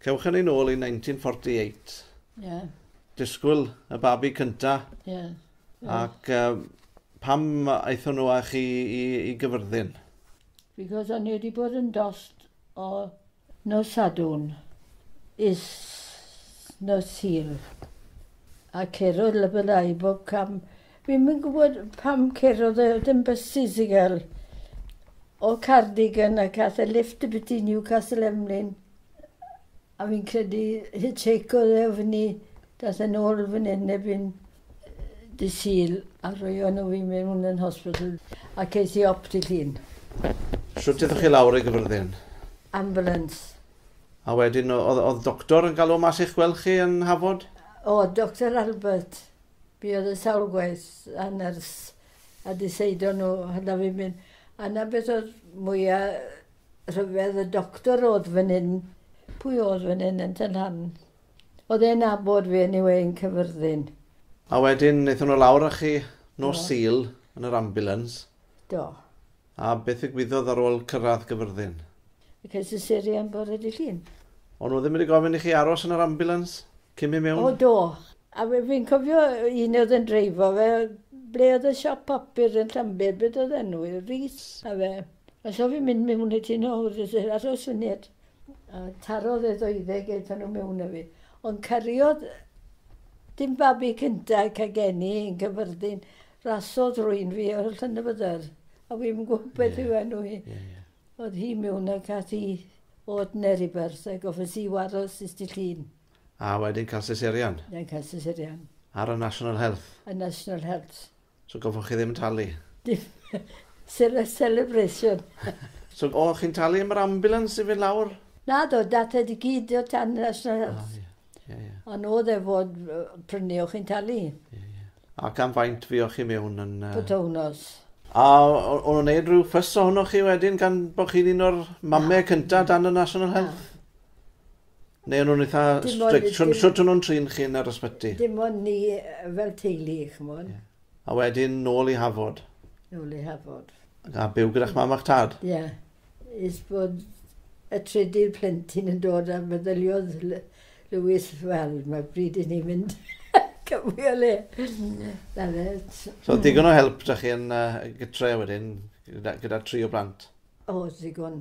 Cewch hynny nôl i 1948. Yeah. Disgwyl y babi cynta. Yeah. yeah. Ac uh, pam aethon nhw â chi i, i gyfyrddin? Because o'n i wedi bod yn dost o nos Sadwn is nos Sil. A cerodd lybyddau bob cam Dwi'm yn gwybod pam cerodd e dim bysus i gael o Cardigan ac ath e lifft i biti Newcastle Emlyn a fi'n credu hitchheikodd e o fyny dath e'n ôl fan hyn erbyn dy Sul a rhoio nhw fi mewn yn hospital a ces i op dy Llun. Shwt ydych chi lawr i Gyfyrddin? Ambulance. A wedyn oedd oedd doctor yn galw mas i'ch gweld chi yn Hafod? O, Doctor Albert. Fi oedd yn sawl gwaith a nyrs a di seido nhw hynna fi'n mynd a na beth oedd mwya rhyfedd y doctor oedd fan hyn. Pwy oedd fan hyn yn Tŷ Nhan? Oedd e'n nabod fi anyway yn Cyfyrddin. A wedyn nethon nhw lawr a chi nos Sul yn yr ambulance. Do. A beth ddigwyddodd ar ôl cyrraedd Gyfyrddin? Ces i serian bore dy Llun. O'n nhw ddim wedi gofyn i chi aros yn yr ambulance? Cyn mynd mewn? O do. A fi fi'n cofio un oedd yn dreifo fe ble oedd y siop papur yn Llanbed beth oedd enw i Rees a fe a so fi'n mynd mewn i ti nawr jyst i aros funud a tarodd e ddoeddeg aethon nhw mewn a fi ond cariodd dim babi cynta cael geni yn cyfyrddin rasodd rwy'n fi o'r Llanybydder a fi'n gwybod beth yw enw hi. Oedd hi miwn ac ath hi od ner i byrth a gofyn si waro sut ti llun. A wedyn cael seserian. Wedyn cael seserian. Ar y National Health. Y National Health. So goffwch chi ddim talu. Dim sele celebration. So o chi'n talu am yr ambulance i fynd lawr? Naddo, dath e di gyd o tan y National Health. Ie, ie. A nod e fod yy prynu o chi'n talu. Ie, ie. Ac am faint fuoch chi mewn yn yy... Pythownos. A o- o'n nhw'n neud rhyw ffys ohonoch chi wedyn gan bo' chi'n un o'r mame cynta dan y National Health? Neu o'n nhw'n eitha strict? Shwt shwt o'n nhw'n trin chi yn yr ysbyty? Dim ond ni yy fel teulu ch'mod. Ie. A wedyn nôl i Hafod? Nôl i Hafod. A byw gyda'ch mam a'ch tad? Ie. Is bod y trydydd plentyn yn dod a meddyliodd Lewis, wel, mae bryd i ni fynd cymru o le. Na fe. So, digon o help da chi yn uh, gytre wedyn, gyda, gyda tri o blant? O, digon.